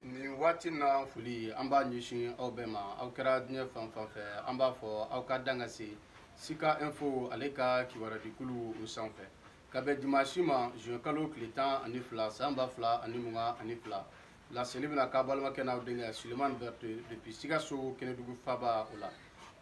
nin waati na foli an b'a ɲɛsin aw bɛɛ ma aw kɛra diɲɛ fan fan fɛ an b'a fɔ aw ka dan ka se sika info ale ka kibarudikulu o sanfɛ ka bɛn dimansi ma juin kalo tile tan ani fila san ba fila ani mugan ani fila laseli bɛna k'a balimakɛ n'aw denkɛ sulemani berete depuis sikaso kɛnɛdugu faba o la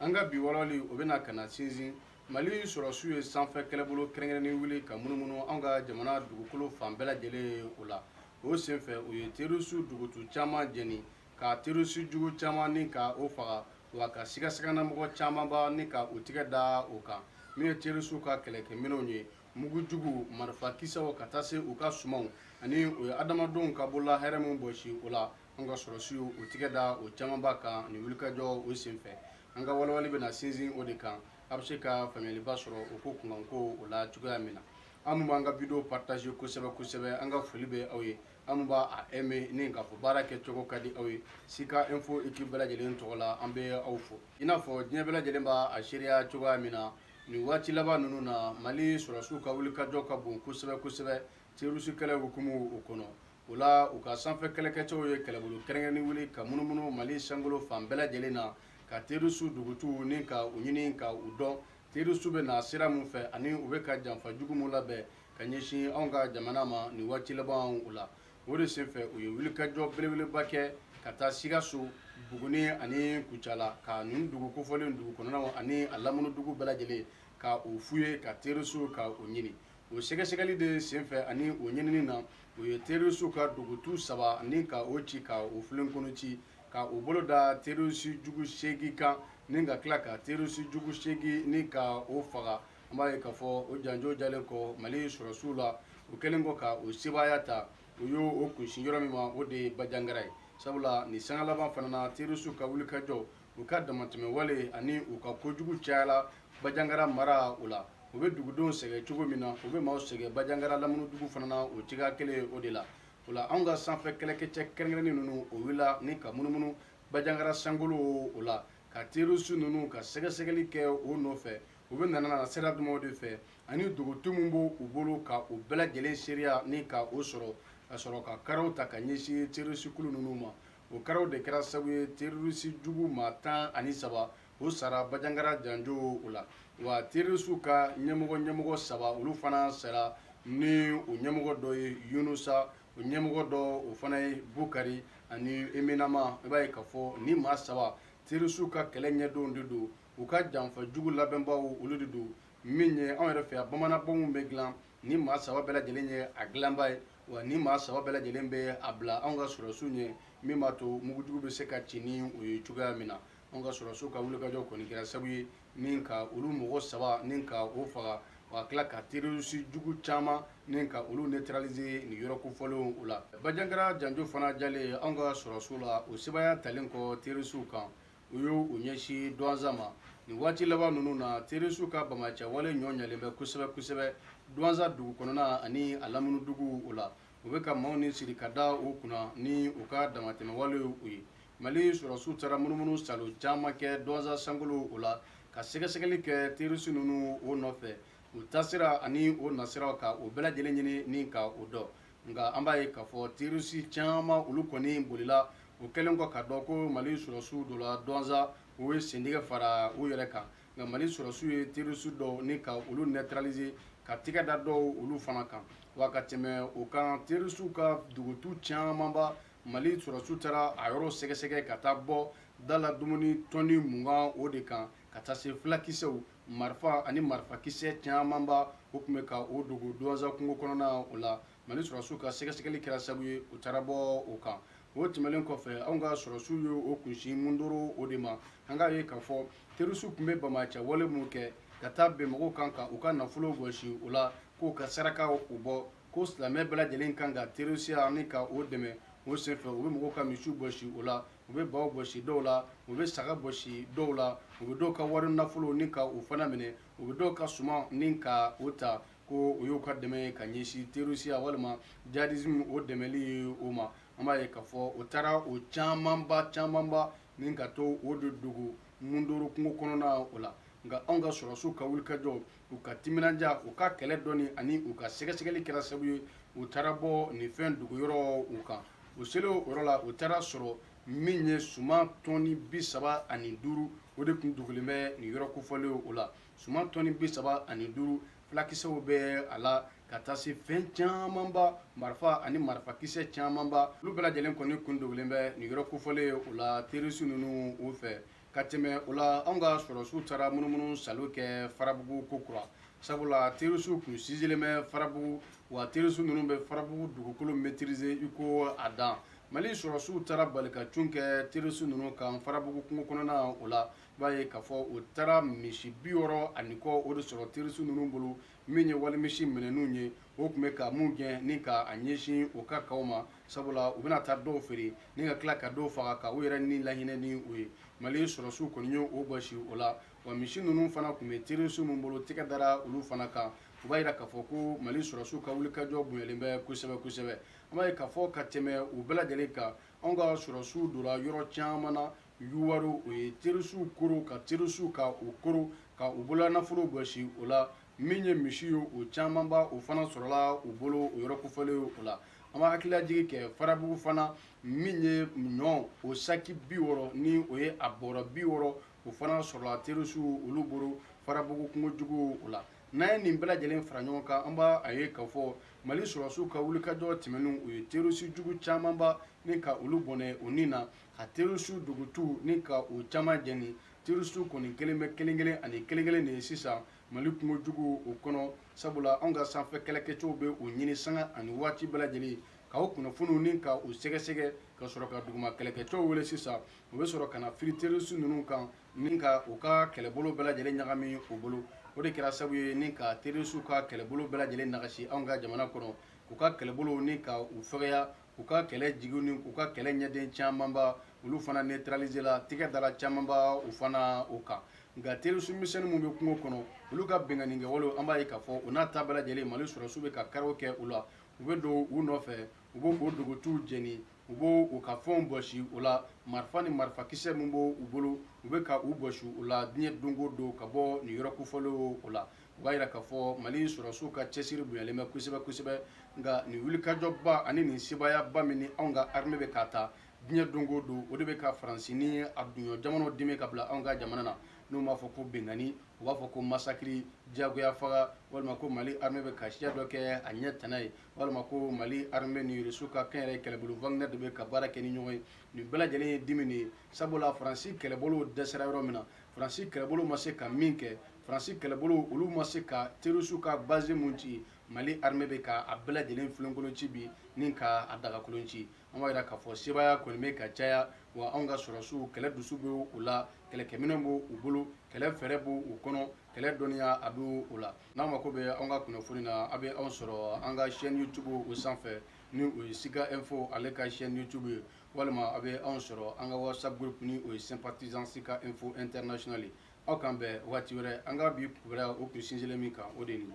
an ka bi walawali o bɛna ka na sinsin mali sɔrɔsiw ye sanfɛ kɛlɛbolo kɛrɛnkɛrɛnnen wuli ka munumunu an ka jamana dugukolo fan bɛɛ lajɛlen o la o senfɛ u ye terroriste dugutu caman jeni ka terroriste jugu caman ni ka o faga wa ka sigasiganamɔgɔ camanba ni ka u tigɛ da o kan min ye terroriste ka kɛlɛkɛminɛnw ye mugu jugu marifa kisɛw ka taa se u ka sumanw ani u ye adamadenw ka bolola hɛrɛ min bɔsi o la an ka sɔrɔsiw u tigɛ da o camanba kan nin wulikajɔ o senfɛ an ka walawali bɛna sinsin o de kan a bɛ se ka faamuyaliba sɔrɔ o ko kunkanko o la cogoya min na aw min b'an ka video partage kosɛbɛ kosɛbɛ an ka foli bɛ aw ye aw min b'a aimé ni k'a fɔ baara kɛcogo ka di aw ye sika info équipe bɛɛ lajɛlen tɔgɔ la an bɛ aw fo i n'a fɔ diɲɛ bɛɛ lajɛlen b'a a seereya cogoya min na nin waati laban ninnu na mali sɔrɔsiw ka wulikajɔ ka bon kosɛbɛ kosɛbɛ terroriste kɛlɛ hukumu o kɔnɔ o la u ka sanfɛ kɛlɛkɛcɛw ye kɛlɛbolo kɛrɛnkɛrɛnnen wuli ka munumunu mali sankolo fan bɛɛ lajɛlen na ka terroriste dugutuw ni ka u ɲini ka u dɔn terisu bɛ na sira min fɛ ani u bɛ ka janfa jugu min labɛn ka ɲɛsin anw ka jamana ma nin waati laban o la o de senfɛ u ye wulikajɔ belebeleba kɛ ka taa sikaso buguni ani kucala ka nin dugu kofɔlen dugu kɔnɔnaw ani a lamini dugu bɛɛ lajɛlen ka u fouillé ka terisu ka u ɲini o sɛgɛsɛgɛli de senfɛ ani o ɲinini na u ye terisu ka dugutu saba ni ka o ci ka o filenkolon ci ka u bolo da terisijugu seegin kan ni ka tila ka terisijugu seegin ni ka o faga an b'a ye k'a fɔ o janjo jalen kɔ mali sɔrɔsiw la o kɛlen kɔ ka u sebaaya ta u y'u kunsin yɔrɔ min ma o de ye bajangara ye sabula nin sanga laban fana na terisiw ka wulikajɔ u ka damatɛmɛwale ani u ka kojugu cayala bajangara mara o la u bɛ dugudenw sɛgɛn cogo min na u bɛ maaw sɛgɛn bajangara lamini dugu fana na o cogoya kelen o de la o la anw ka sanfɛ kɛlɛkɛcɛ kɛrɛnkɛrɛnnen ninnu o wulila ni ka munumunu bajangara sankolo o la ka terroriste ninnu ka sɛgɛsɛgɛli kɛ o nɔfɛ u bɛ nana na sira jumɛnw de fɛ ani dugutu min b'u bolo ka o bɛɛ lajɛlen seereya ni ka o sɔrɔ ka sɔrɔ ka karaw ta ka ɲɛsin terroriste kulu ninnu ma o karaw de kɛra sababu ye terroriste jugu maa tan ani saba u sara bajangara janjo o la wa terisiw ka ɲɛmɔgɔ ɲɛmɔgɔ saba olu fana sara ni o ɲɛmɔgɔ dɔ ye yunusa o ɲɛmɔgɔ dɔ o fana ye bukari ani eminama i b'a ye k'a fɔ ni maa saba terisiw ka kɛlɛ ɲɛdɔnw de don u ka janfa jugu labɛnbaw olu de don min ye anw yɛrɛ fɛ yan bamananbɔmu bɛ dilan ni maa saba bɛɛ lajɛlen ye a dilanba ye wa ni maa saba bɛɛ lajɛlen bɛ a bila anw ka sɔrɔsiw ɲɛ min b'a to mugujugu bɛ se ka ci ni o ye cogoya min na anw ka sɔrɔdasiw ka wulikajɔ kɔni kɛra sabu ye ni ka olu mɔgɔ saba ni ka o faga ka tila ka terisi jugu caman ni ka olu neutraliser nin yɔrɔ kofɔlenw o la bajangara janjo fana diyalen anw ka sɔrɔdasiw la u sebaaya talen kɔ terisiw kan u y'u ɲɛsin duwanza ma nin waati laban ninnu na terisiw ka bamacɛwale ɲɔ ɲalen bɛ kosɛbɛ kosɛbɛ duwanza dugu kɔnɔna ani a lamini duguw o la u bɛ ka maaw ni siri ka da u kunna ni u ka damatɛmɛwale u ye mali sɔrɔsiw taara munumunu salo caman kɛ duwanza sankolo o la ka sɛgɛsɛgɛli kɛ terisi ninnu o nɔfɛ u taasira ani u nasiraw ka o bɛɛ lajɛlen ɲini ni ka o dɔn nka an b'a ye k'a fɔ terisi caman olu kɔni bolila u kɛlen kɔ k'a dɔn ko mali sɔrɔsiw donna duwanza u ye sentigɛ fara u yɛrɛ kan nka mali sɔrɔdasiw ye terroriste dɔw ni ka olu neutraliser ka tɛgɛ da dɔw olu fana kan wa ka tɛmɛ o kan terroriste ka dogotu camanba mali sɔrɔdasiw taara a yɔrɔ sɛgɛsɛgɛ ka taa bɔ da la dumuni tɔni mugan o de kan ka taa se fulakisɛw marifa ani marifakisɛ camanba o tun bɛ ka o dogo duwanza kungo kɔnɔna o la mali sɔrɔsiw ka sɛgɛsɛgɛli kɛra sabu ye u taara bɔ o kan o tɛmɛlen kɔfɛ anw ka sɔrɔsiw ye u kunsin mundoro o de ma an k'a ye k'a fɔ terisiw tun bɛ bamacɛ wale minnu kɛ ka taa bin mɔgɔw kan ka u ka nafolo bɔsi o la k'u ka saraka o bɔ ko silamɛ bɛɛ lajɛlen kan ka terisiya ni ka o dɛmɛ o senfɛ u bɛ mɔgɔw ka misiw bɔsi o la u bɛ baw bɔsi dɔw la u bɛ saga bɔsi dɔw la u bɛ dɔw ka wari nafolo ni ka o fana minɛ u bɛ dɔw ka suman ni ka o ta ko o y'u ka dɛmɛ ye ka ɲɛsin terisiya walima jihadisme o dɛmɛli ye o ma an b'a ye k'a fɔ o taara o camanba camanba ni ka to o de dogo mundoro kungo kɔnɔna o la nka anw ka sɔrɔsiw ka wulikajɔ u ka timinandiya u ka kɛlɛ dɔnni ani u ka sɛgɛsɛgɛli kɛra sababu ye u taara bɔ nin fɛn dogo yɔrɔ o kan u selen o yɔrɔ la u taara sɔrɔ min ye suman tɔni bi saba ani duuru o de tun dogolen bɛ nin yɔrɔ kofɔlen o la Suman tɔni bi saba ani duuru fulakisɛw bɛ a la ka taa se fɛn camanba marifa ani marifakisɛ camanba olu bɛɛ lajɛlen kɔni kun dogolen bɛ nin yɔrɔ kofɔlen o la terisi ninnu o fɛ ka tɛmɛ o la anw ka sɔrɔsiw taara munumunu salo kɛ farabugu kokura sabula terisiw tun sinsinlen bɛ farabugu wa terisi ninnu bɛ farabugu dugukolo maîtriser i ko a dan mali sɔrɔsiw taara bali ka cun kɛ terisi ninnu kan farabugu kungo kɔnɔna o la i b'a ye k'a fɔ u taara misi bi wɔɔrɔ ani kɔ o de sɔrɔ terisi ninnu bolo min ye wali misi minɛnenw ye o tun bɛ ka mun gɛn ni ka a ɲɛsin o ka kaw ma sabula u bɛna taa dɔw feere ni ka tila ka dɔw faga ka u yɛrɛ ni lahinɛ ni o ye mali sɔrɔsiw kɔni ye o bɔsi o la wa misi ninnu fana tun bɛ terisi min bolo tɛgɛ dara olu fana kan u b'a jira k'a fɔ ko mali sɔrɔsiw ka wulikajɔ bonyalen bɛ kosɛbɛ kosɛbɛ an b'a ye k'a fɔ ka tɛmɛ u bɛɛ lajɛlen kan anw ka sɔrɔsiw donna yɔrɔ caman na Yuwaru o ye terisuw koron ka terisuw ka u koron ka u bolola nafolo bɔsi o la min ye misi ye o camanba o fana sɔrɔla u bolo o yɔrɔ kofɔlen o la an b'a hakililajigin kɛ farabugu fana min ye ɲɔ o saki bi wɔɔrɔ ni o ye a bɔrɔ bi wɔɔrɔ o fana sɔrɔla terisuw olu bolo farabugu kungojugu o la n'an ye nin bɛɛ lajɛlen fara ɲɔgɔn kan an b'a ye k'a fɔ mali sɔrɔsiw ka wulikajɔ tɛmɛnenw u ye terisi jugu camanba ni ka olu bɔnɛ o ni na ka terisi dogotu ni ka u caman jeni terisi kɔni kɛlen bɛ kelenkelen ani kelenkelen de ye sisan mali kungojugu o kɔnɔ sabula anw ka sanfɛ kɛlɛkɛcɛw bɛ u ɲini sanga ani waati bɛɛ lajɛlen ka u kunnafoniw ni ka u sɛgɛsɛgɛ ka sɔrɔ ka duguma kɛlɛkɛcɛw wele sisan u bɛ sɔrɔ ka na firi terisi ninnu kan ni ka u ka kɛlɛbolo bɛɛ lajɛlen ɲagami u bolo o de kɛra sababu ye ni ka terisiw ka kɛlɛbolo bɛɛ lajɛlen nagasi anw ka jamana kɔnɔ u ka kɛlɛbolo ni ka u fɛgɛya u ka kɛlɛ jigi ni u ka kɛlɛ ɲɛden camanba olu fana netralizela tɛgɛ dala camanba u fana u kan nka terisi misɛnnin minnu bɛ kungo kɔnɔ olu ka binkanni kɛwalew an b'a ye k'a fɔ o n'a ta bɛɛ lajɛlen mali sɔrɔsiw bɛ ka karaw kɛ u la u bɛ don u nɔfɛ u bɛ k'u dogotuw jeni u b' u ka fɛnw bɔsi u la marifa ni marifakisɛ min b' u bolo u bɛ ka u bɔsi u la diɲɛ don o don ka bɔ nin yɔrɔ kofɔlen o la u b'a jira k'a fɔ mali sɔrɔsiw ka cɛsiri bonyalen bɛ kosɛbɛ kosɛbɛ nka nin wulikajɔba ani nin sebaayaba min ni anw ka armée bɛ k'a ta diɲɛ don o don o de bɛ ka faransi ni a duɲɔ jamanaw dimi ka bila anw ka jamana na n'u m'a fɔ ko binkanni u b'a fɔ ko masakiri diyagoya faga walima ko mali armée bɛ ka siya dɔ kɛ a ɲɛ tana ye walima ko mali armée ni rusiw ka kɛnyɛrɛye kɛlɛbolo wagner de bɛ ka baara kɛ ni ɲɔgɔn ye nin bɛɛ lajɛlen ye dimi de ye sabula faransi kɛlɛbolow dɛsɛra yɔrɔ min na faransi kɛlɛbolow ma se ka min kɛ Faransi kɛlɛbolo olu ma se ka terroristes ka base min ci, Mali armée bɛ ka a bɛɛ lajɛlen filenkolon ci bi ni ka a dagakolon ci. An b'a jira k'a fɔ sebaaya kɔni bɛ ka caya, wa anw ka sɔrɔsiw kɛlɛ dusu bɛ u la, kɛlɛkɛminɛn b'u bolo, kɛlɛ fɛɛrɛ b'u kɔnɔ, kɛlɛ dɔnniya a bɛ u la. N'aw mako bɛ anw ka kunnafoni na, aw bɛ anw sɔrɔ an ka chaine YouTube o sanfɛ, ni o ye Sika Info ale ka chaine YouTube ye. walima a bɛ anw sɔrɔ an ka whatsapp groupe ni o ye sympathisant sika info international ye aw k'an bɛn waati wɛrɛ an ka bi kibaruya o tun sinsinlen min kan o de ye nin ye